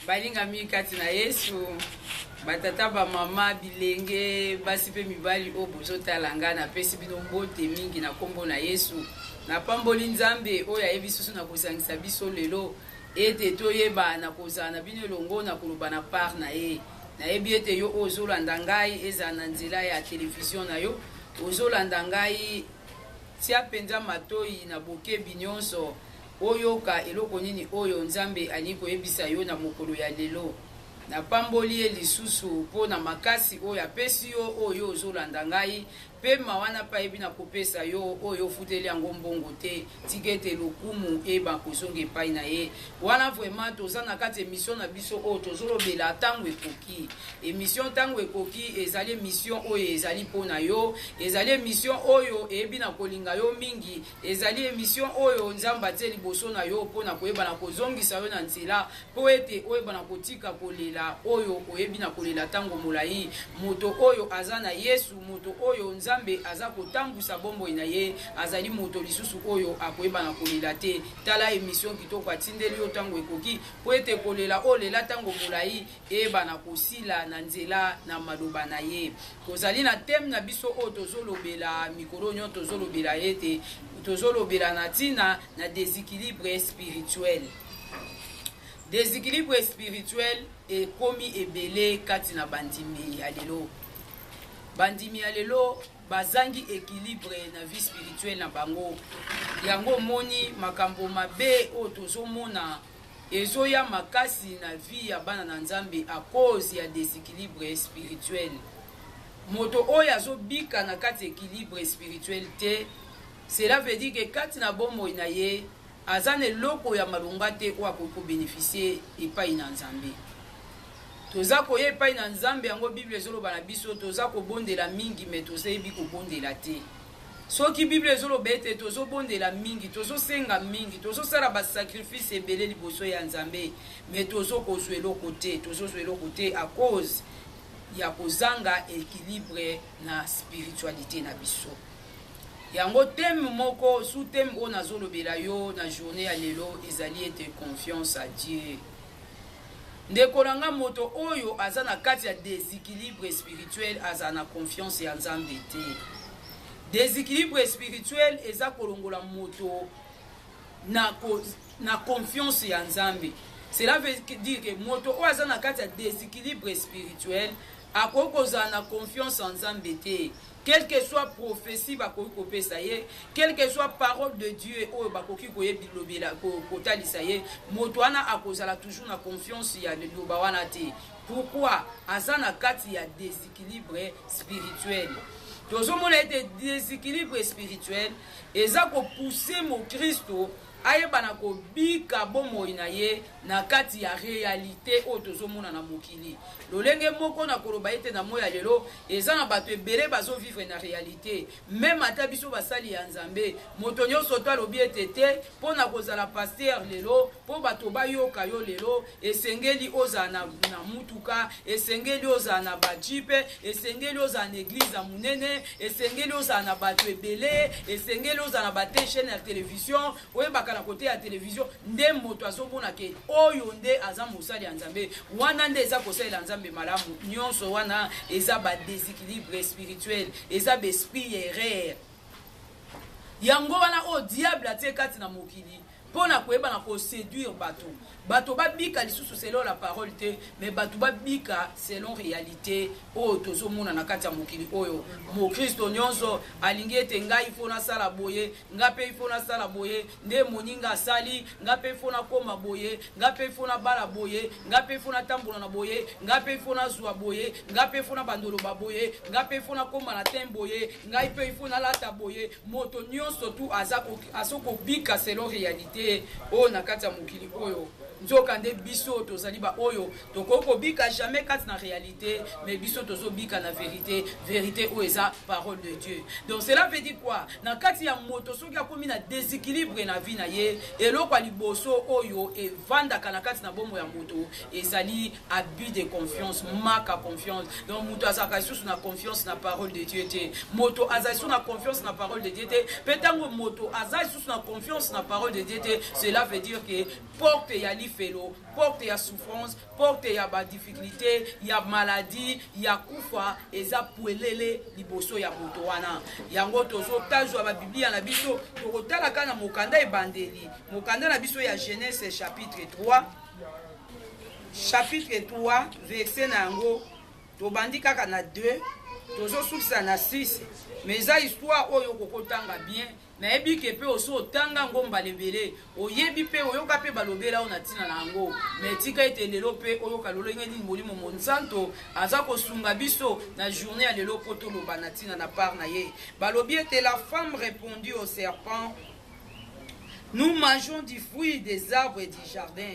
Balingami kati na Yesu, batata, bamama, bilenge, basi mpe mibali oyo bozotala ngai, napesi bino mbote mingi na nkombo na Yesu. Napamboli Nzambe oyo ayebi susu na kosangisa biso lelo ete toyeba na kozala na bino elongo na koloba na part na ye. Nayebi ete yo oyo ozolanda ngai, ezala na nzela ya televizio na yo, ozolanda ngai, tia mpenza matoi na bokebi nyonso Oyoka eloko nini oyo Nzambe alingi koyebisa yo na mokolo ya lelo. Napamboli ye lisusu mpo na makasi oyo apesi yo oyo yo ozolanda ngai, mpe mawa na payebi na kopesa yo oyo ofuteli yango mbongo te. Tika ete lokumu eyeba kozonga epai na ye. Wana vraiment toza na kati emission na biso oyo tozolobela ntango ekoki. Emission ntango ekoki ezali emission oyo ezali mpo na yo, ezali emission oyo eyebi na kolinga yo mingi. Ezali emission oyo Nzambe atie liboso na yo mpo na koyeba na kozongisa yo na nzela mpo ete oyeba na kotika kolela oyo oyebi na kolela ntango molai. Moto oyo aza na Yesu, moto oyo Nzambe aza kotambwisa bomoi na ye, azali moto lisusu oyo akoyeba na kolela te. Tala emission kitoko atindeli yo ntango ekoki mpo ete kolela olela ntango molai eyebana kosila na nzela na maloba na ye tozali na teme na biso oyo tozolobela mikolo nyonso tozolobela ete tozolobela na ntina na desequilibre spirituel desequilibre spirituel ekomi ebele kati na bandimi ya lelo bandimi ya lelo bazangi equilibre na vie spirituelle na bango yango omoni makambo mabe oyo tozomona Ezoya makasi na vie ya bana na nzambe à cause ya desequilibre spirituel. Moto oyo azo bika na kati equilibre spirituel te cela veut dire que kati na bomoi na ye aza na eloko ya malonga te oyo akoki ko beneficier epai na nzambe. Toza koya epai na nzambe yango bible ezoloba na biso toza kobondela mingi mais toza yebi kobondela te. Soki Bible ezo loba ete tozo bondela mingi, tozo senga mingi, tozo sala ba sacrifice ebele liboso ya Nzambe mais tozo ko zwa eloko te, tozo zwa eloko te à cause ya ko zanga equilibre na spiritualite na biso. Yango thème moko, sous thème oyo nazo lobela yo na journee ya lelo ezali ete confiance à Dieu. Ndeko na nga moto oyo aza na kati ya desequilibre spirituel azala na confiance ya Nzambe te. Desequilibre spirituel eza kolongola moto na, ko, na confiance ya Nzambe. Cela veut dire que moto oyo aza na kati ya desequilibre spirituel akoki kozala na confiance ya Nzambe te. Quel que soit prophetie bakoki kopesa ye, quel que soit parole de Dieu oyo bakoki koye bilobela kotalisa ye, moto wana akozala toujours na confiance ya liloba wana te. Pourquoi? Aza na kati ya déséquilibre spirituel. Tozomona ete déséquilibre spirituel eza kopousse mokristo Ayeba na kobika bomoi na ye na kati ya realite oyo tozomona na mokili. Lolenge moko na koloba ete na moi ya lelo eza na bato ebele bazo vivre na realite. Meme ata biso basali ya Nzambe, moto nyonso to alobi ete te mpo na kozala pasteur lelo, mpo bato bayoka yo lelo, esengeli ozala na, na mutuka esengeli ozala na bajipe esengeli ozala na eglize ya monene esengeli ozala na bato ebele esengeli ozala na bate chaine ya television oyebaka na kote ya television nde moto azomona ke oyo nde aza mosali ya nzambe wana nde eza kosalela nzambe malamu nyonso wana eza badesequilibre spirituel eza baesprit ya erreur yango wana oyo diable atie kati na mokili mpo na koyeba na koseduire bato bato babika lisusu selon la parole te me bato babika selon réalité oyo tozomona na kati ya mokili oyo mokristo nyonso alingi ete ngai ifo nasala boye ngai mpe ifo nasala boye nde moninga asali ngai mpe ifo nakoma boye ngai mpe ifo nabala boye ngai mpe ifo natambola na boye ngai mpe ifo nazwa boye ngai mpe ifo nabandoloba boye ngai mpe ifo nakoma na te boye ngai mpe ifo nalata boye Moto nionso tu aza aso kobika selon realite oyo na kati ya mokili oyo nzoka nde biso tozali ba oyo tokoki kobika jamais kati na realite mais biso tozobika na verite verite oyo eza parole de dieu donc cela veut dire quoi na kati ya moto soki akomi na déséquilibre na vie na ye eloko ya liboso oyo evandaka na kati na bomo ya moto ezali abus de confiance maka confiance donc moto azalaka lisusu na confiance na parole de dieu te moto azali lisusu na confiance na parole de dieu te mpe ntango moto aza lisusu na confiance na parole de dieu te cela veut dire que porte ya lifelo porte ya souffrance porte ya badifficulté ya maladie ya kufa eza pwelele liboso ya moto wana yango tozotazwa babiblia na biso tokotalaka na mokanda ebandeli mokanda na biso ya genese chapitre 3 chapitre 3 verse na yango tobandi kaka na 2 tozosukisa na 6 mais eza histoire oyo okoki otanga bien nayebi ke mpe osi otanga yango mbala ebele oyebi mpe oyoka mpe balobela yo na ntina na yango me tika ete lelo mpe oyoka lolenge nini molimo monsanto aza kosunga biso na journée ya lelo mpo toloba na ntina na part na ye balobi ete la femme répondit au serpent nous mangeons du fruit des arbres et du jardin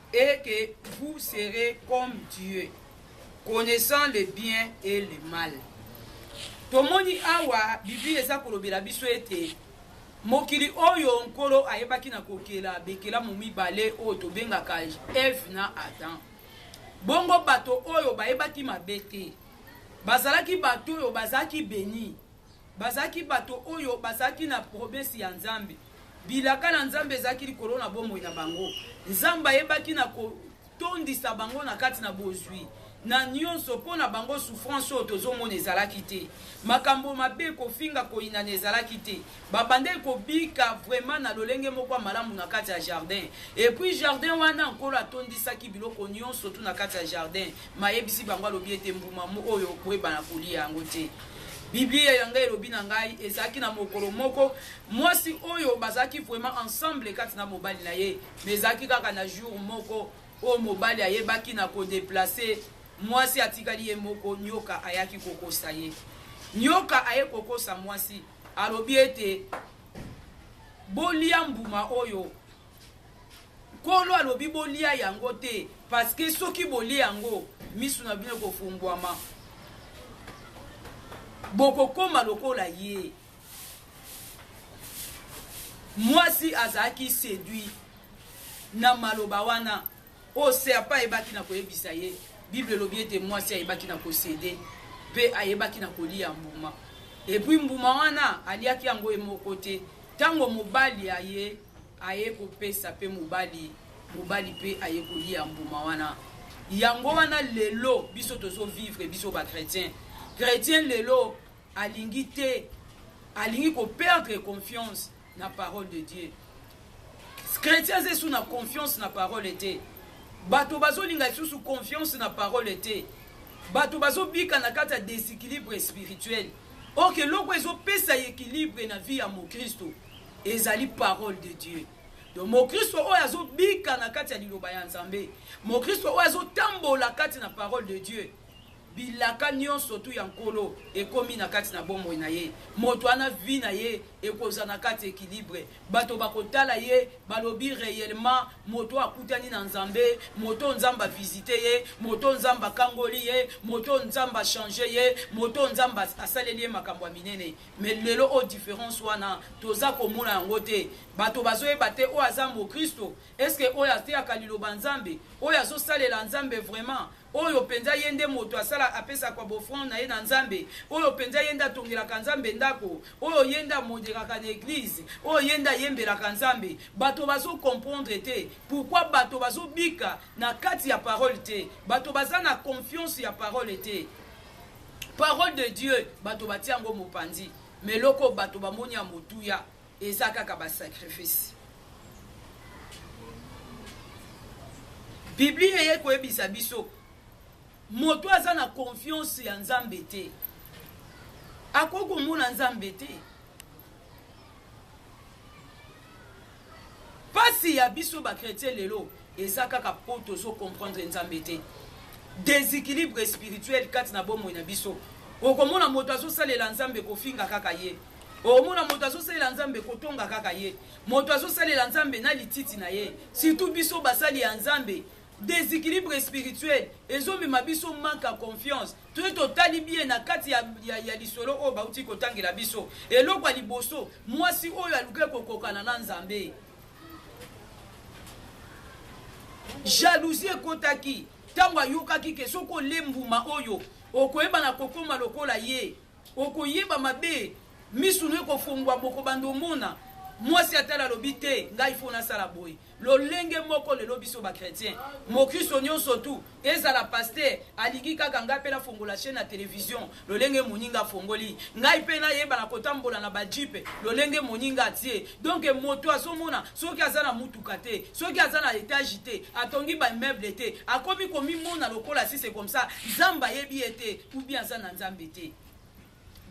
et que vous serez comme Dieu, connaissant le bien et le mal. Tomoni awa Biblia eza kolobela biso ete mokili oyo nkolo ayebaki na kokela bikelamu mibale oyo tobengaka Eve na Adam. Bongo bato oyo bayebaki mabe te, bazalaki bato oyo bazalaki beni Bazalaki bato oyo bazalaki na promese ya Nzambe. Bilaka na Nzambe ezalaki likolo na bomoi na bango. Nzambe ayebaki na kotondisa bango na kati na bozwi na nyonso. Mpo na bango, souffrance oyo tozomona ezalaki te. Makambo mabe, kofinga, koyinana ezalaki te. Babandaki kobika vraiment na lolenge moko ya malamu na kati ya jardin. Et puis jardin wana, Nkolo atondisaki biloko nyonso tout na kati ya jardin. Mayebisi bango alobi ete mbuma oyo okoyeba na kolia yango te. Biblia ya ngai elobi na ngai ezalaki na mokolo moko mwasi oyo bazalaki vraiment ensemble kati na mobali na ye, mais ezalaki kaka na jour moko oyo mobali ayebaki na kodeplace mwasi atikali ye moko, nyoka ayaki kokosa ye. Nyoka aye kokosa mwasi, alobi ete bolia mbuma oyo Nkolo alobi bolia yango te, paske soki bolie yango, misu na bino ekofungwama, bokokoma lokola ye. Mwasi azalaki seduit na maloba wana oyo serpa ayebaki na koyebisa ye. Bible elobi ete mwasi ayebaki na kosede mpe ayebaki na kolia mbuma, epui mbuma wana aliaki yango ye moko te ntango mobali aye aye kopesa pe mobali mobali pe aye koliya mbuma wana yango wana lelo biso tozo vivre biso ba chrétien chrétien lelo alingi te alingi ko perdre confiance na parole de dieu chrétien aza esu na confiance na parole te bato bazolinga lisusu confiance na parole te bato bazobika na kati ya déséquilibre spirituel orke eloko ezopesa équilibre na vie ya mokristo ezali parole de dieu donc mokristo oyo azobika na kati ya liloba ya nzambe mokristo oyo azotambola kati na parole de dieu bilaka nyonso tu ya nkolo ekomi na kati na bomoi na ye moto wana vi na ye ekozala na kati ekilibre bato bakotala ye balobi reyellement moto akutani na nzambe moto nzambe avisite ye moto nzambe akangoli ye moto nzambe achange ye moto nzambe asaleli ye makambo ya minene Mais lelo o difference wana toza komona yango te bato bazoyeba te oyo aza mokristo eske oyo ateyaka liloba nzambe oyo azosalela nzambe vraiment oyo mpenza ye nde moto asala apesaka bofrande na ye na nzambe oyo mpenza ye nde atongelaka nzambe ndako oyo ye nde amoderaka na eglize oyo ye nde ayembelaka nzambe bato bazokomprendre te pourkui bato bazobika na kati ya parole te bato baza na confiance ya parole te parole de dieu bato batia yango mopanzi ma eloko bato bamoni ya motuya eza kaka basacrifice biblia eye koyebisa biso moto aza na konfiance ya nzambe te akoki komona nzambe te Pasi ya biso ba chretien lelo eza kaka po tozo comprendre Nzambe te. Desequilibre spirituel kati na bomoi na biso. Okomona moto azosalela Nzambe kofinga kaka ye. Okomona moto azosalela Nzambe kotonga kaka ye. Moto azosalela Nzambe na lititi na ye. Surtout biso basali ya Nzambe Desequilibre spirituel ezomema biso manque ya confiance toye totali bien na kati ya, ya, ya lisolo oyo bauti kotangela biso. Eloko ya liboso, mwasi oyo alukaki kokokana na Nzambe jalousie ekotaki ntango ayokaki ke soki olie mbuma oyo okoyeba na kokoma lokola ye Okoyeba mabe misu no ekofongwa bokobanda omona mwasi atala alobi te ngai fo nasala boye lolenge moko lelo biso bachrétien mokristo nyonso tu ezala paster alingi kaka ngai mpe nafongola chaine ya televizio lolenge moninga afongoli ngai mpe nayeba na kotambola na bajipe lolenge moninga atie donke moto azomona soki aza na motuka te soki aza na etage te atongi bameuble te akomi komimona lokola sise komsa nzambe ayebi ye te ou bien aza na nzambe te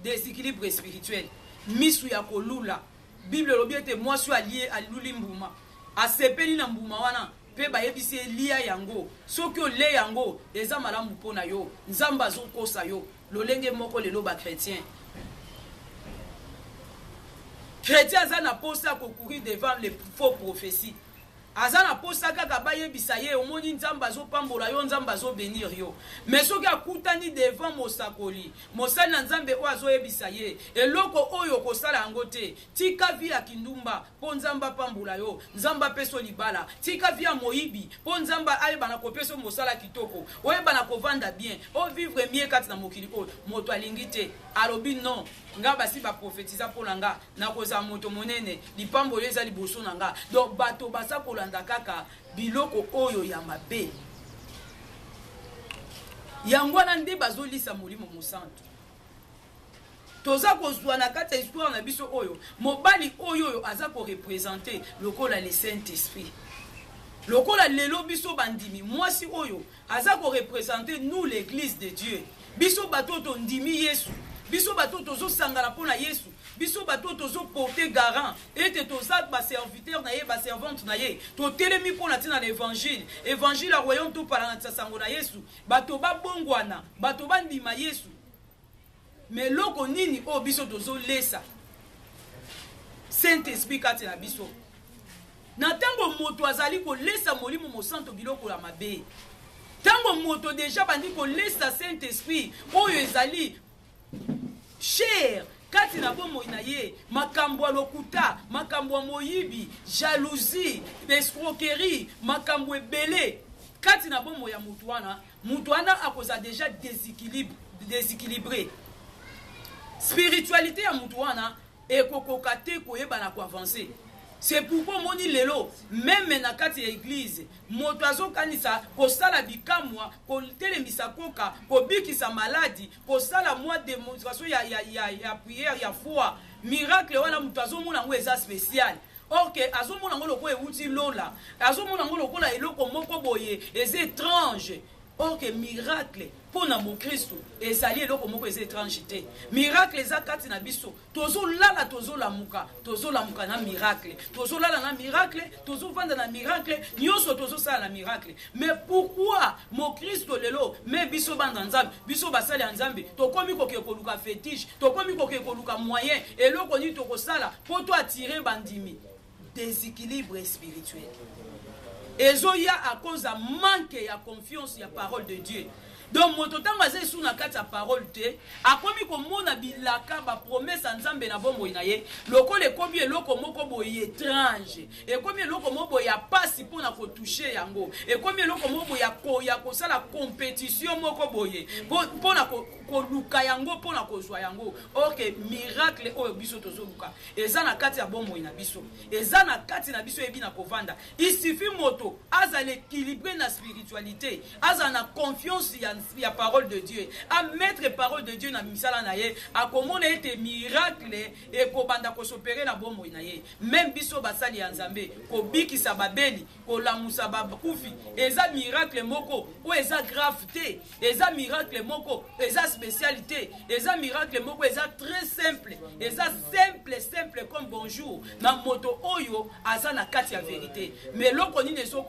desequilibre spirituel misu ya kolula bible elobi ete mwasi oyo alie aluli mbuma asepeli na mbuma wana mpe bayebisi ye lia yango soki olie yango eza malamu mpo na yo nzambe azokosa yo lolenge moko lelo bakretien kretien aza na mposa ya kokurir devant le faux prophétie Aza na posa kaka ba yebisa ye omoni nzambe azo pambola yo nzambe azo benir yo mais soki akutani devant mosakoli mosali na nzambe oyo azo yebisa ye eloko oyo okosala yango te tika vie ya kindumba po nzambe apambola yo nzambe apeso libala tika vie ya moyibi po nzambe ayebana kopeso mosala kitoko oyebana kovanda bien o vivre mie kati na mokili oyo moto alingi te alobi non nga basi ba profetiza po na nga nakozala moto monene lipambo oyo eza liboso na nga donc bato baza kolanda kaka biloko oyo ya mabe yango wana nde bazolisa molimo mosantu toza kozwa na kati ya histoire na biso oyo mobali oyo oyo aza korepresente lokola le saint esprit lokola lelo biso bandimi mwasi oyo aza ko representer nous l'église de Dieu biso bato oyo tondimi Yesu biso bato oyo tozosangana mpo na Yesu biso bato oyo tozoporte garant ete toza baserviteur na ye baservante na ye totelemi mpo na ntina na évangile évangile ya royaume topalanganisa sango na yesu bato babongwana bato bandima yesu Mais eloko nini oyo biso tozo lesa Saint Esprit kati na biso? Na tango moto azali kolesa Molimo Mosanto biloko ya mabe, tango moto deja bandi kolesa Saint Esprit oyo ezali cher kati na bomoi na ye makambo ya lokuta makambo ya moyibi jalousie escroquerie makambo ebele kati na bomoi ya moto wana Mutu wana akozala deja desequilibre. Spiritualite ya mutu wana ekokoka te koyeba na koavancer. C'est pourquoi moni lelo meme na kati ya eglise moto azokanisa kosala bikamwa kotelemisa koka kobikisa maladi kosala mwa demonstration ya, ya, ya, ya prière ya foi miracle wana moto azomona yango eza spécial Or que azomona yango lokola ewuti lola, azomona yango lokola eloko moko boye eza étrange. Or que miracle mpo na mokristo ezali eloko moko eza étrange te. Miracle eza kati na biso, tozolala, tozolamuka, tozolamuka na miracle, tozolala na miracle, tozovanda na miracle, nyonso tozosala na miracle. me pourkui mokristo lelo me biso bana nzambe biso basali ya nzambe tokomi kokee koluka fetiche tokomi kokee koluka moyen eloko nini tokosala mpo to atire bandimi déséquilibre spirituel ezoya akoza manke ya confiance ya parole de dieu donc moto ntango aza esu na kati ya parole te akomi komona bilaka bapromese ya nzambe na bomoi na ye lokola ekomi eloko moko boye étrange ekomi eloko moko boye ya mpasi mpo na kotouche yango ekomi eloko moko boye ya kosala competition moko boye mpo na koluka yango mpo na kozwa yango orke miracle oyo biso tozoluka eza na kati ya bomoi na biso eza na kati na biso eyebi na kovanda isifi moto azala équilibre na spiritualité azala na confiance ya, ya parole de dieu amettre parole de dieu na misala na ye akomona ete miracle ekobanda kosopere na bomoi na ye Meme biso basali ya Nzambe, kobikisa babeli, kolamusa bakufi, eza miracle moko oyo eza grave te, eza miracle moko eza special te, eza miracle moko eza très simple, eza simple simple comme bonjour na moto oyo aza na kati ya verite. Mais eloko nini ezo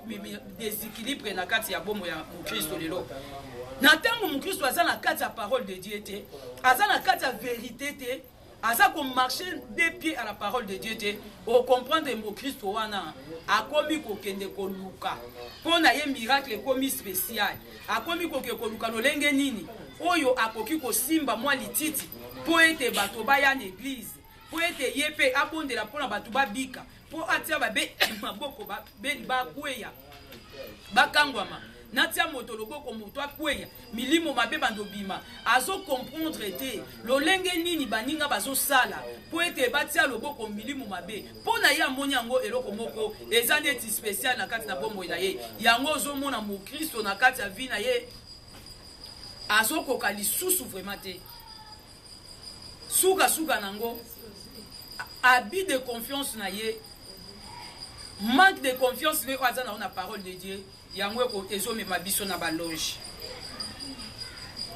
desequilibre na kati ya bomo ya Mokristo lelo? Na ntango Mokristo aza na kati ya parole de Dieu te, aza na kati ya verite te, aza ko marche de pied à la parole de dieu te okomprendre mokristo wana akomi kokende koluka mpo na ye miracle ekomi spécial akomi koke koluka lolenge nini oyo akoki kosimba mwa lititi mpo ete bato baya na eglize mpo ete ye mpe abondela mpo na bato babika mpo atia babe maboko babeli bakweya bakangwama natia moto loboko moto akweya milimo mabe bando bima azokomprendre te lolenge nini baninga bazosala mpo ete batia loboko milimo mabe mpo na ye amoni yango eloko moko eza neti spesiale na kati na bomoi na ye yango ozomona mokristo na kati ya vi na ye azokoka lisusu vraimen te suka suka nango abus de confiance na ye manque de confiance ne oyo aza nango na parole de dieu yango ezomema biso na baloge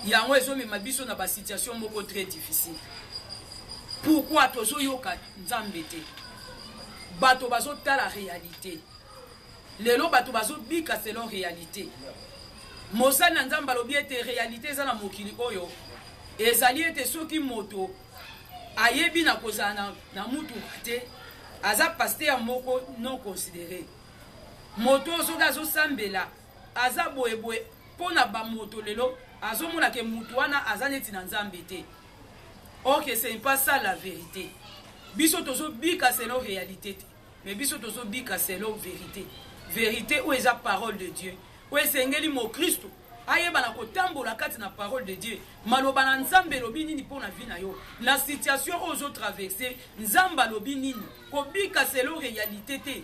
yango ezomema biso na basituation moko très difficile pourkui tozoyoka nzambe te bato bazotala réalité Lelo bato bazo bika selon realite. Mosali na Nzambe alobi ete realite eza na mokili oyo ezali ete soki moto ayebi na kozala na, na mutuka te aza pasteur moko non considere moto oyo soki azosambela aza boyeboye mpo na bamoto lelo azomona ke moto wana aza neti na nzambe te ok ce n'est pas ça la vérité biso tozobika selon réalité te Mais biso tozo bika selon verite. Verite ou eza parole de Dieu. Ou esengeli mo Christo ayeba na kotambola kati na parole de Dieu. Maloba na Nzambe elobi nini mpo na vie na yo? Na situation oyo ozo traverser, Nzambe alobi nini? Kobika selon realite te.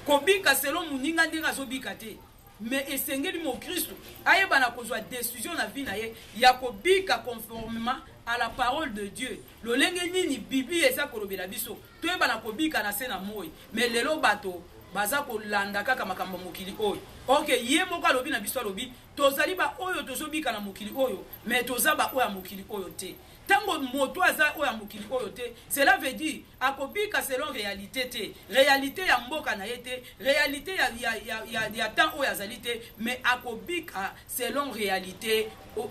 Kobika selon muninga ndenge azobika te. Mais esengeli mokristu ayeba na kozwa decision na vie na ye ya kobika conformement à la parole de Dieu. Lolenge nini Biblia eza kolobela biso toyeba na kobika na se na moi. Mais lelo bato baza kolanda kaka makambo ya mokili oyo. Or que ye moko alobi na biso alobi tozali ba oyo tozobika na mokili oyo mais toza ba oyo ya mokili oyo te. Tango moto aza oyo ya mokili oyo te cela veut dire Akobika selon realite te, realite ya mboka na ye te, realite ya, ya, ya, ya, ya temps oyo azali te, mais akobika selon realite,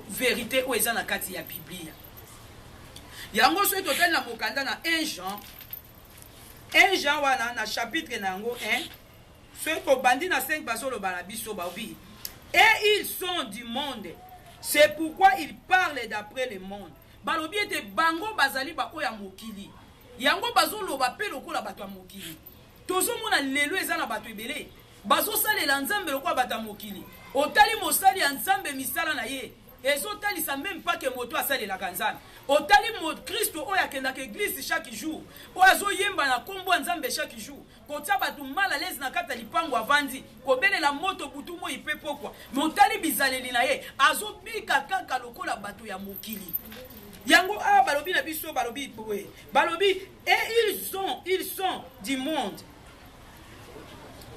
verite oyo eza na kati ya Biblia. Yango soki totali na mokanda na 1 Jean, 1 Jean wana na chapitre na yango 1, soki tobandi na 5 bazoloba na biso baobi et ils sont du monde c'est pourquoi ils parlent d'après le monde Balobi ete bango bazali baoyo ya mokili. Yango bazoloba mpe lokola bato ya mokili. Tozomona lelo eza na bato ebele bazosalela Nzambe lokola bato ya mokili. Otali mosali ya Nzambe misala na ye ezotalisa meme pas que moto asalelaka nzambe otali mokristo oyo akendaka eglise chaque jour oyo azoyemba na nkombo ya nzambe chaque jour kotia bato mal à l'aise na kati ya lipango avandi kobelela moto butu moi mpe pokwa me otali bizaleli na ye azobika kaka lokola bato ya mokili yango awa balobi na biso balobi boye balobi et ils sont ils sont du monde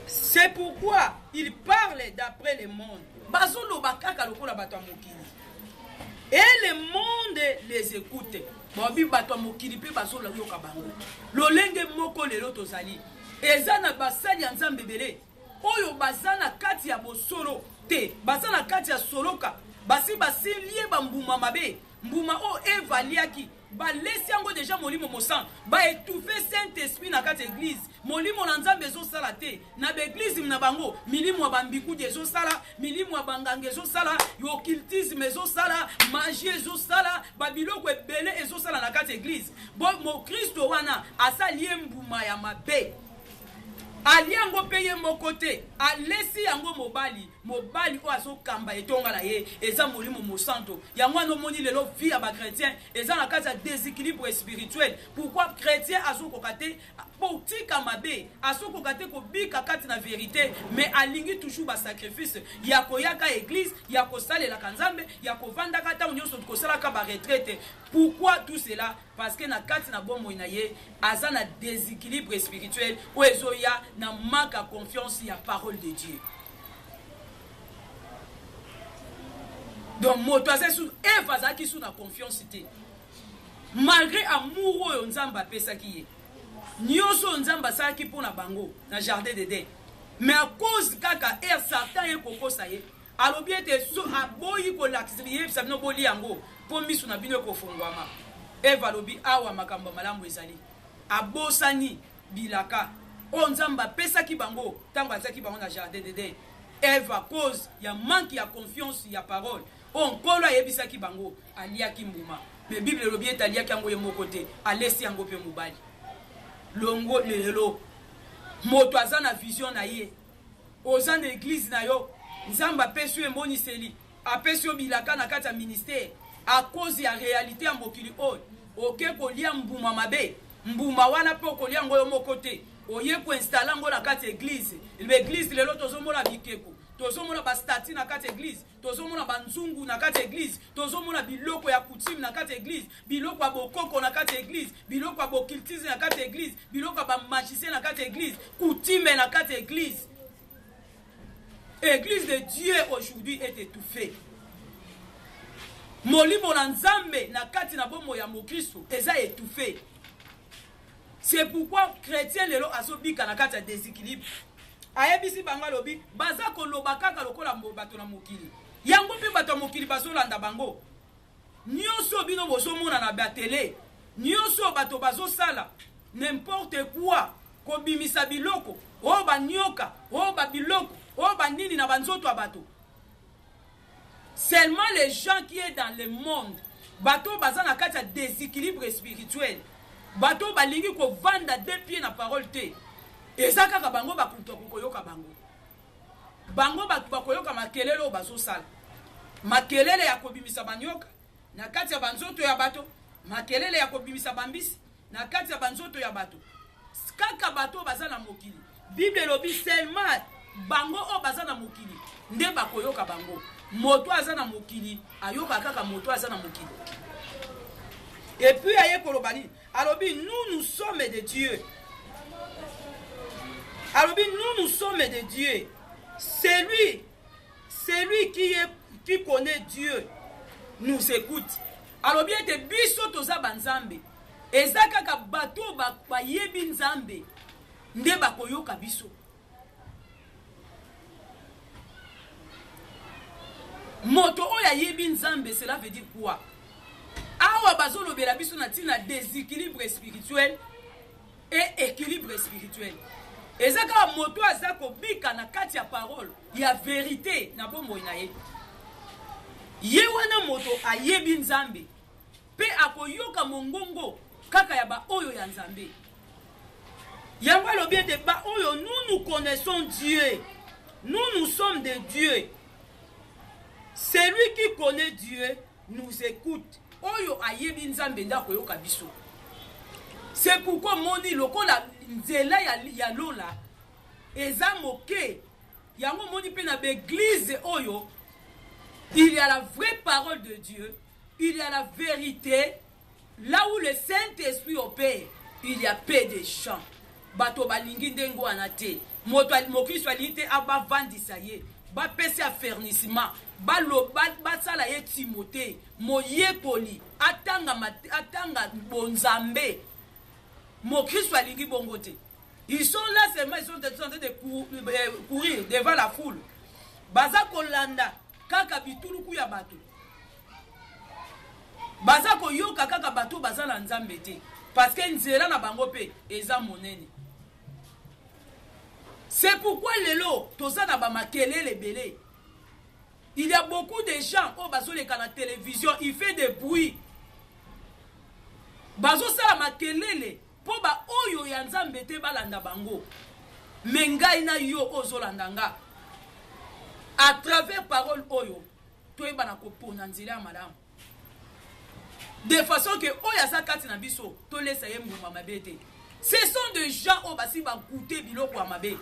c'est pourquoi ils parlent d'après le monde bazoloba kaka lokola bato ya mokili et le monde les écoute babi bato ya mokili mpe bazoloyoka bango lolenge moko lelo tozali eza na basali ya nzambe ebele oyo baza na kati ya bosolo te baza na kati ya soloka basi basilie bambuma mabe mbuma oyo eva aliaki balesi yango deja molimo mosantu baetufe saint esprit na kati ya eglize molimo na nzambe ezosala te na ba eglise na bango milimu ya bambikudi ezosala milimu ya banganga ezosala occultisme ezosala magie ezosala babiloko ebele ezosala na kati eglise bo mokristo wana asali ye mbuma ya mabe ali yango mpe ye moko te alesi yango mobali mobali oyo azokamba etonga na ye eza molimo mosanto yango wana omoni lelo vie ya bachrétien eza na kati ya déséquilibre spirituel pourquoi chrétien azokoka te botika mabe azokoka te kobika kati na verite mais alingi toujours basacrifice ya koyaka eglise ya kosalelaka nzambe ya kovandaka ntango nyonso kosalaka baretraite pourquoi tout cela parce que na kati na bomoi na ye aza na déséquilibre spirituel oyo ezoya na manque ya confiance ya parole de dieu donc moto aza su eve azalaki su na confiance te Malgre amour oyo Nzambe apesaki ye, nioso oyo Nzambe asalaki mpo na bango na jardin d'Eden, mais à cause kaka heure Satan aye kokosa ye, alobi ete so aboyi kolakisa yebisa bino bolia yango mpo misu na bino ekofonguama. Eva alobi awa makambo ya malamu ezali, abosani bilaka oyo Nzambe apesaki bango tango atiaki bango na jardin d'Eden. Eva cause ya manque ya confiance ya parole oyo Nkolo ayebisaki bango. Aliaki mbuma. Mais Bible elobi ete aliaki yango ye moko te. Alesi yango pe mobali. Longo lelo. Moto aza na vision na ye. Oza na eglise na yo. Nzambe apesi yo emoniseli. Apesi yo bilaka na kati ya ministère. A cause ya realite ya mokili oyo. Oke kolia mbuma mabe. Mbuma wana pe okolia yango yo moko te. Oye ko installer yango na kati ya eglise. L'eglise lelo tozomona bikeko. tozomona bastati na kati ya eglise tozomona banzungu na kati ya eglize tozomona biloko ya coutume na kati ya eglize biloko ya bokoko na kati ya eglize biloko ya bokiltize na kati ya eglize biloko ya bamagicien na kati ya eglize coutume na kati ya eglize eglize de dieu aujourd'hui est étouffée molimo na nzambe na kati na bomoi ya mokristo eza étouffée C'est pourquoi chretien lelo azo bika na kati ya desequilibre. Ayebisi bango alobi baza koloba kaka lokola bato na mokili. Yango mpe bato ya mokili bazolanda bango. Nyoso bino bozomona na ba tele, nyoso bato bazosala n'importe quoi, kobimisa biloko oyo banyoka, oyo ba biloko, oyo banini na banzoto ya bato. Seulement les gens qui est dans le monde bato oyo baza na kati ya desequilibre spirituel bato oyo balingi kovanda de pied na parole te eza kaka bango bakutu akokoyoka bango bango bato bakoyoka makelele oyo bazosala makelele ya kobimisa banyoka na kati ya banzoto ya bato makelele ya kobimisa bambisi Na kati ya banzoto ya bato, kaka bato oyo baza na mokili. Bible elobi seulement bango oyo baza na mokili nde bakoyoka bango. Moto aza na mokili ayoka kaka moto aza na mokili. Et puis aye koloba nini? Alobi nous nous sommes de Dieu. Alobi nous nous sommes de Dieu. Celui celui qui est qui connaît Dieu nous écoute alobi ete biso toza banzambe eza kaka bato oyo bayebi nzambe nde bakoyoka biso moto oyo ayebi nzambe cela veut dire quoi awa bazolobela biso na ntina deséquilibre spirituel e equilibre spirituel eza kaka moto aza kobika na kati ya parole ya verite na bomoi na ye ye wana moto ayebi nzambe mpe akoyoka mongongo kaka ya baoyo ya nzambe yango alobi ete baoyo nous nous connaissons dieu nous nous sommes de dieu celui qui connaît dieu nous écoute oyo ayebi nzambe nde akoyoka biso c'est pourquoi omoni lokola nzela ya, ya lola eza moke yango omoni mpe na baeglize oyo il y a la vraie parole de dieu il y a la vérité Là où le saint esprit opere il ya peu de chant bato balingi ndenge wana te moto mokristo alingi te bavandisa ye bapesa ya fernisima basala ye timote moyekoli atanga, atanga bonzambe mokristo alingi bongo te ils sont là seulement ils sont en train de euh, courir devant la foule baza kolanda kaka bituluku ya bato baza koyoka kaka bato oyo baza na nzambe te parceke nzela na bango mpe eza monene c'est pourquoi lelo toza na bamakelele ebele il y a beaucoup de gens oyo bazoleka na télévision il fait des bruits bazosala makelele mpo baoyo ya nzambe te balanda bango me ngai na yo oyo ozolanda nga à travers parole oyo toyebana kopona nzela ya malamu de façon ke oyo aza kati na biso tolesa ye mbuma mabe te ce sont de gens oyo basi bagoute biloko ya mabe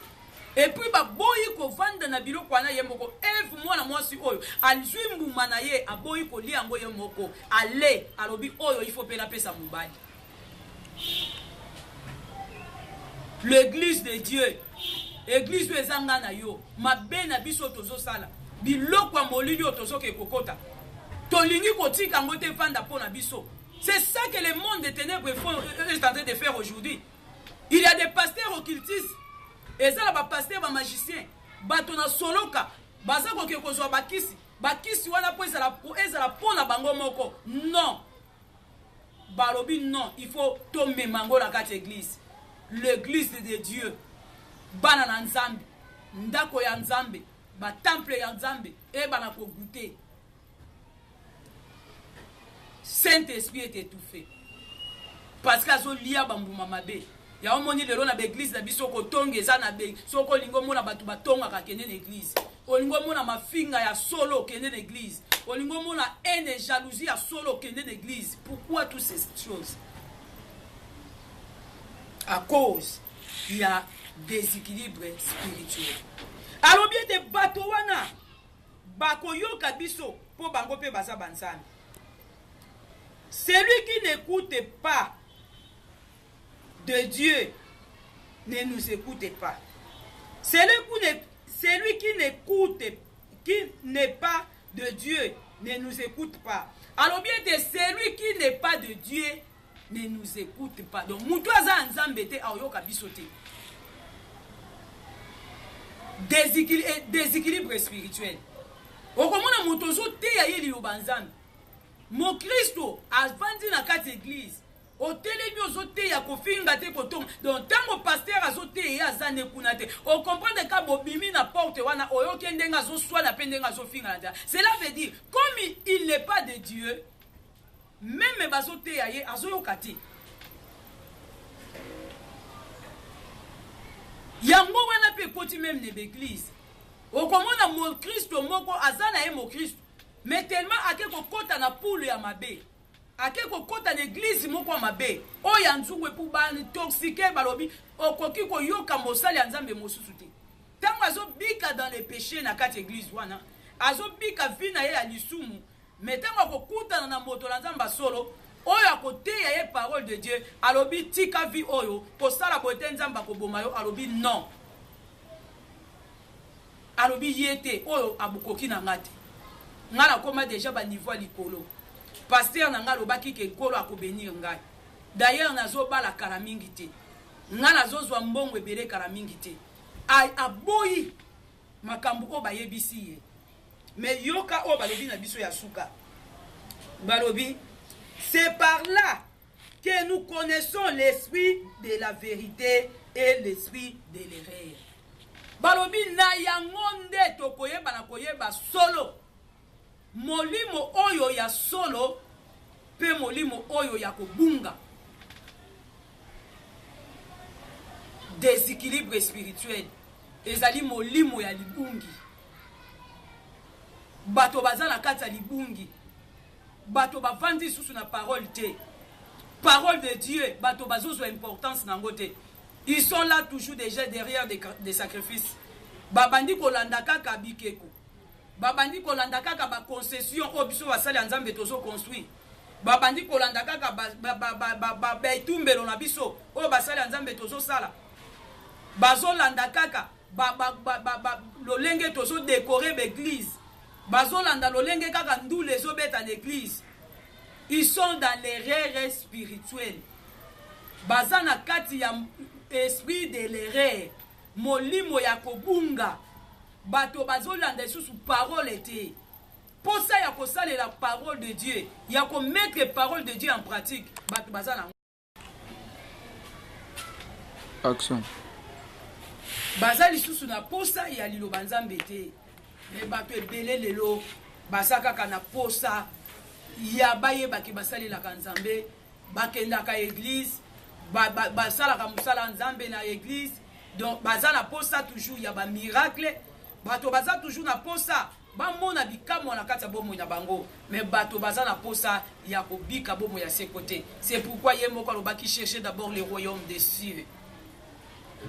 epuis baboyi kovanda na biloko wana ye moko eve mwana mwasi oyo azwi mbuma na ye aboyi kolia yango ye moko ale alobi oyo ifo mpe napesa mobali L'eglise de Dieu. Eglise oyo eza nga na yo. Mabe na biso tozosala. Biloko ya molili oyo tozoke kokota. Tolingi kotika yango te efanda mpo na biso. C'est ça que le monde des ténèbres est en train de faire aujourd'hui. Il y a des pasteurs occultistes. Eza na ba pasteurs ba magiciens. Bato na soloka. Baza koke kozwa bakisi. Bakisi wana mpo ezala mpo na bango moko. Non. balobi non il faut tomema yango na kati ya eglise l'église de dieu bana na nzambe ndako ya nzambe batemple ya nzambe eyebana kogute saint esprit est étouffé parce que azolia bambuma mabe Yango omoni lelo na ba eglise na biso kotonga eza na bei. Soki olingi omona bato batongaka kende na eglise. Olingi omona mafinga ya solo kende na eglise. Olingi omona haine jalousie ya solo kende na eglise. Pourquoi tous ces choses? À cause il y a déséquilibre spirituel. Alobi ete bato wana bakoyoka biso mpo bango mpe baza banzambe. Celui qui n'écoute pas de Dieu ne nous écoute pas. Celui qui ne, celui qui n'écoute, qui n'est pas de Dieu ne nous écoute pas. Alors bien que celui qui n'est pas de Dieu ne nous écoute pas. Donc, mutu aza nzambe te aoyoka biso te. Eh, déséquilibre spirituel okomona moto ozoteya ye liloba nzambe mokristo avandi na kati eglize otelemi ozoteya kofinga te kotoma donc ntango paster azoteya ye aza ne kuna te ocomprendre ka bobimi na porte wana oyoki ye ndenge azoswana mpe ndenge azofinga na nzela cela veut dire comme il n'est pas de dieu meme bazoteya ye azoyoka te yango wana mpe ekoti meme na baeglize okomona mokristo moko aza na ye mokristo mais tellement ake kokɔta na pule ya mabe ake kokota na eglize moko ya mabe oyo ya nzungu epu baintoxike balobi okoki koyoka mosali ya nzambe mosusu te ntango azobika dans le péché na kati eglize wana azobika vi na ye ya lisumu me ntango akokutana na moto na nzambe ya solo oyo akoteya ye parole de dieu alobi tika vi oyo kosala boye te nzambe akoboma yo alobi non Alobi ye te oyo abukoki na nga te nga na koma deja ba niveau ya likolo pasteur na nga alobaki ke nkolo ako benir ngai d'ailleurs na zo bala kala mingi te nga na zo zua mbongo ebele kala mingi te a aboyi makambu oyo ba yebisi ye mais yoka oyo balobi na biso ya suka balobi c'est par là que nous connaissons l'esprit de la vérité et l'esprit de l'erreur balobi na yango nde tokoyeba na koyeba solo molimo oyo ya solo mpe molimo oyo ya kobunga déséquilibre spirituel ezali molimo ya libungi bato baza na kati ya libungi Bato bavandi lisusu na parole te. Parole de Dieu, bato bazozwa importance na yango te. Ils sont là toujours déjà derrière des, des sacrifices. Babandi kolanda kaka bikeko. Babandi kolanda kaka ba concession oyo biso basali ya Nzambe tozo construire. Babandi kolanda kaka ba ba ba ba ba, ba, ba etumbelo na biso oyo basali ya Nzambe tozo sala. Bazolanda kaka ba, ba, ba, ba, ba, lolenge tozo decore baeglise bazolanda lolenge kaka ndule ezobeta na eglise ils sont dans l'erreur spirituelle baza na kati ya esprit de l'erreur molimo ya kobunga bato bazolanda lisusu parole te mposa ya kosalela parole de dieu ya komettre parole de dieu en pratique bato baza na action baza lisusu na posa ya liloba nzambe te me bato ebele lelo baza kaka na posa ya bayebaki basalelaka nzambe bakendaka eglize basalaka ba, ba mosala ya nzambe na eglize donc baza na posa toujours ya bamiracle bato baza toujours na posa Bamona bikamwa na kati ya bomoi na bango, mais bato baza na posa ya kobika bomoi ya seko te. C'est pourquoi ye moko alobaki chercher d'abord le royaume des cieux.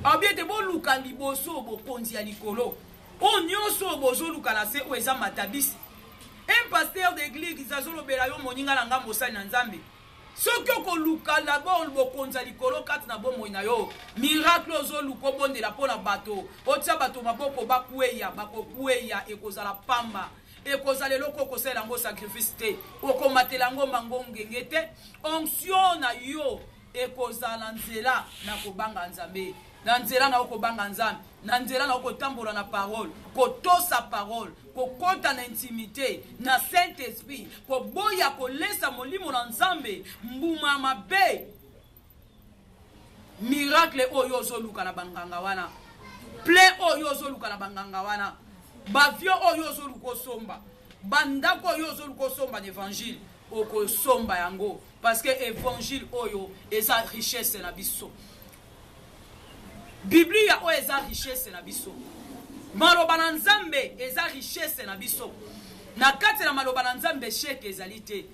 Alobi ete boluka liboso bokonzi ya likolo. Oyo nyonso oyo bozoluka na se oyo eza matabisi. Un pasteur d'église azolobela yo moninga na ngai mosali na Nzambe. Soki okoluka d'abord bokonzi ya likolo kati na bomoi na yo, miracle oyo ozoluka obondela mpo na bato, otia bato maboko bakweya, bakokweya, ekozala pamba. Ekozala eloko okosalela yango sacrifice te, okomatela yango mango ngenge te, onction na yo ekozala nzela na kobanga Nzambe. Na nzela na yo kobanga Nzambe, na nzela na yo kotambola na parole, kotosa parole, kokota na intimite na Saint Esprit, koboya kolesa molimo na Nzambe mbuma ya mabe. Miracle oyo ozoluka na banganga wana, plein oyo ozoluka na banganga wana, bavio oyo ozoluka osomba, bandako oyo ozoluka osomba na evangile okosomba yango parce que evangile oyo eza richesse na biso Biblia oyo eza richesse na biso. Maloba na Nzambe eza richesse na biso. Na kati na maloba na Nzambe sheke ezali te.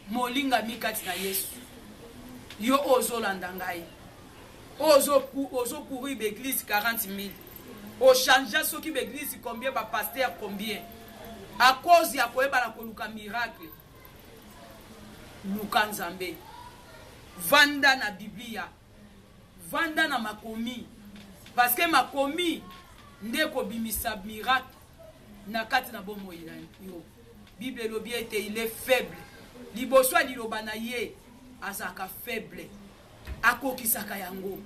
Molingami kati na Yesu. Yo ozolanda ngai. Ozo ozo courir b'eglise 40 000. Ochangea soki b'eglise combien ba pasteur combien. A cause ya koyeba na koluka miracle. Luka Nzambe. Vanda na Biblia. Vanda na makomi. Parce que makomi nde kobimisa miracle na kati na bomoi na yo. Bible elobi ete il est faible. Liboso ya liloba na ye azalaka faible. Akokisaka yango.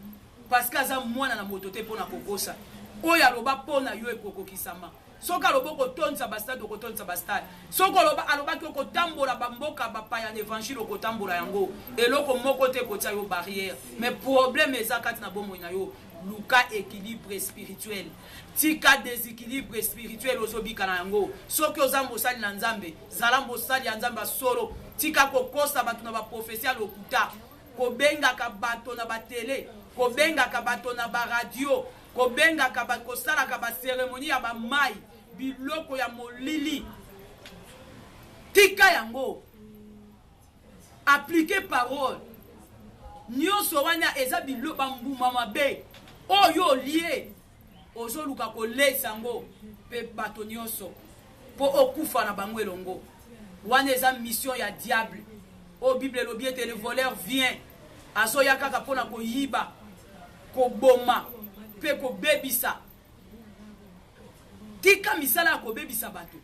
Parce que aza mwana na moto te mpo na kokosa. Oyo aloba mpo na yo ekokokisama. soki alobi okotondisa bastade okotondisa bastade soki oloba alobaki okotambola bamboka bapaya na evangile okotambola yango eloko moko te ekotia yo barrière mais problème eza kati na bomoi na yo luka équilibre spirituel tika déséquilibre spirituel ozobika na yango soki oza mosali na nzambe zala mosali ya nzambe ya solo tika kokosa bato na baprofesi ya lokuta kobengaka bato na batele kobengaka bato na baradio Kobengaka ba, kosalaka ba ceremonie ya ba mayi, biloko ya molili. Tika yango. Appliquer parole. Nionso wana eza bilo ba mbuma mabe. Oyo olie ozoluka kolesa yango mpe bato nyonso mpo okufa na bango elongo wana eza mission ya diable oyo bible elobi ete le voleur vient azoya kaka mpo na koyiba koboma mpe kobebisa. Tika misala ya kobebisa bato.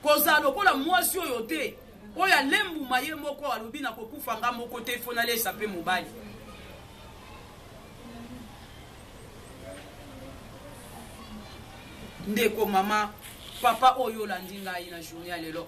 Kozala lokola mwasi oyo te, oyo alembuma ye moko, alobi na kokufa nga moko te, fo nalesa mpe mobali. Ndeko mama, papa oyo olandi ngai na journée ya lelo.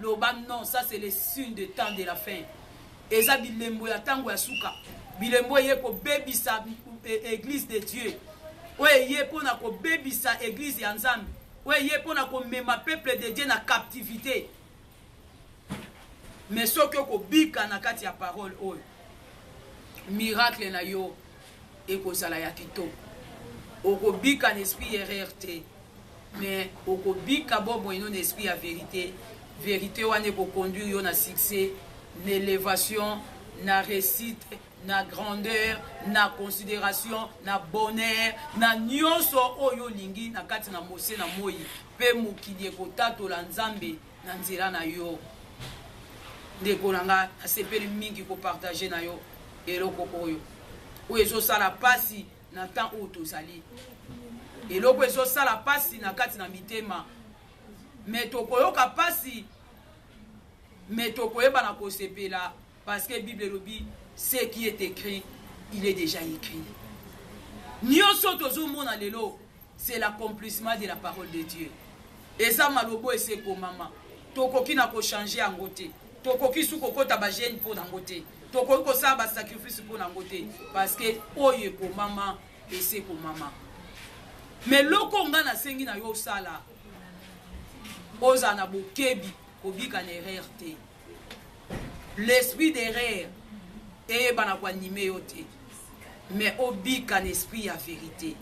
Loba non, ça c'est le signe de temps de la fin. Eza bilembo ya tango ya suka. Bilembo eye ko bebisa eh, église de Dieu. Oyo eye pona ko bebisa église ya Nzambe. Oyo eye pona ko mema peuple de Dieu na captivité. Mais soki okobika na kati ya parole oyo, miracle na yo ekozala ya kitoko okobika na esprit ya erreur te mais okobika bomoi no na esprit ya verite verite wana ekoconduire yo na succès na elevation na réussite na grandeur na considération na bonheur na nyonso oyo olingi na kati na mose na moi mpe mokili ekotatola nzambe na nzela na yo ndeko na nga nasepeli mingi kopartage na yo eloko oyo oyo ezosala mpasi na temps oyo tozali eloko ezosala mpasi na kati na mitema me tokoyoka mpasi me tokoyeba na kosepela Parce que Bible elobi ce qui est écrit, il est déjà écrit. Nyoso tozomona lelo, c'est l'accomplissement de la parole de Dieu. Eza malobo eseko mama. Tokoki na ko changer yango te. Tokoki su kokota ba gene mpo na yango te. Tokoki kosala ba sacrifice mpo na yango te parce que oyo ekomama eseko mama. Mais loko nga nasengi na yo osala ozala na bokebi kobika na erreur te. l'esprit d'erreur eyebana koanime yo te mais obika na esprit ya verité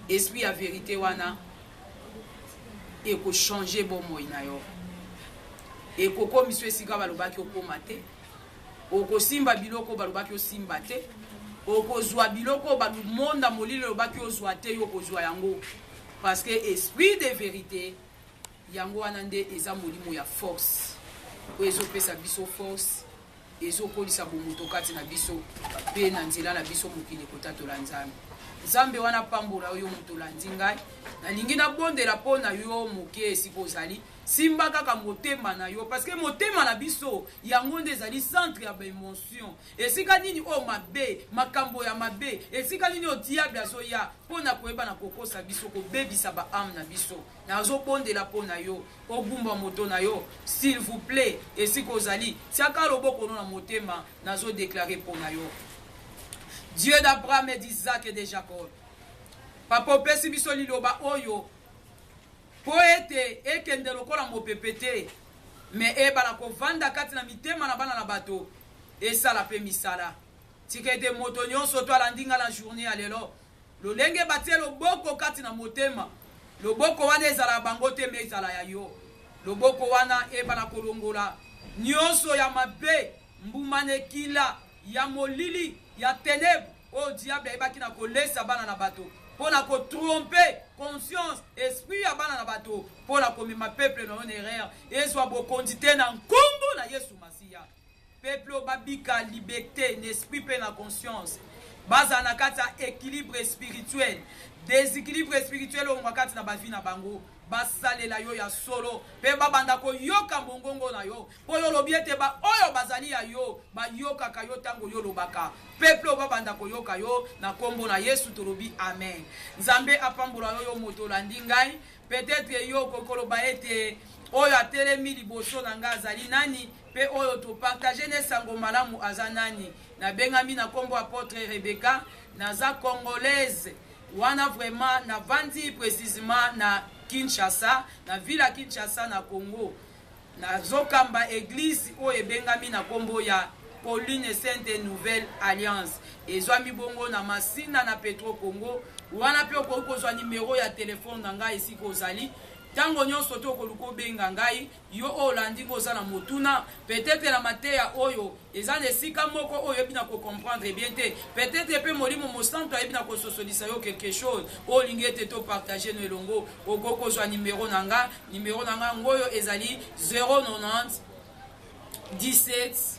esprit ya verité wana ekochange bomoi na yo ekokomisa esika balobaki okoma te okosimba biloko balobaki osimba te okozwa biloko bamonda molili elobaki ozwa te yo okozwa yango parce que esprit de verité Yango wana nde eza molimo ya force oyo ezopesa biso force ezokolisa bomoto kati na biso mpe na nzela na biso mokili kotatola nzambe nzambe wana apambola yo moto olandi ngai nalingi nabondela mpo na yo moke esika ozali simba kaka motema na yo parceke motema na biso yango nde ezali centre ya baemotion esika nini oyo mabe makambo ya mabe esika nini oyo diable azoya mpo na koyeba na kokosa biso kobebisa baame na biso Nazo bondela pona yo ogumba moto na yo s'il vous plait esika ozali tiaka loboko no na motema nazo declare pona yo Dieu d'Abraham et d'Isaac et de Jacob papa opesi biso liloba oyo po ete ekende lokola mopepe te me ebala kovanda kati na mitema na bana na bato esala pe misala tika ete moto nyonso to alandi nga na journée ya lelo Lolenge batie loboko kati na motema, loboko wana ezala ya bango te mais ezala ya yo. Loboko wana ebala kolongola nionso ya mabe, mbuma na ekila ya molili ya tenèbres oyo diable ayebaki na kolesa bana na bato mpo na ko tromper conscience, esprit ya bana na bato mpo na komema peuple na yo na erreur ezwa bokonzi te na nkombo na Yesu Masiya. Peuple oyo ba bika liberte n'esprit pe na conscience. Bazala na kati ya equilibre spirituel. Desequilibre spirituel oyo kati na ba vie na bango. Basalela yo ya solo pe ba banda ko yoka mongongo na yo. Po yo olobi ete ba oyo bazali ya yo ba yokaka yo tango yo olobaka. Peuple oyo ba banda ko yoka yo na kombo na Yesu tolobi amen. Nzambe apambola yo yo moto olandi ngai. Peut etre yo okoki koloba ete oyo atelemi liboso na ngai azali nani? pe oyo to partager ne sango malamu aza nani na bengami na kombo apotre Rebecca naza congolaise wana vraiment na vandi precisement na Kinshasa na ville ya Kinshasa na Congo nazokamba eglise oyo ebengami na kombo ya Pauline Sainte Nouvelle Alliance ezwami bongo na Masina na Petro Congo wana pe okoki kozwa numero ya telefone na ngai esika ozali ntango nyonso te okoluka obenga ngai Yo oyo olandi ngo oza na motuna peut-etre na mateya oyo eza na esika moko oyo oyebi na ko comprendre bien te peut-etre mpe molimo mosantu ayebi na kososolisa yo quelque chose oyo olingi ete to partage no elongo okoki kozwa nimero na nga nimero na nga yango oyo ezali 090 17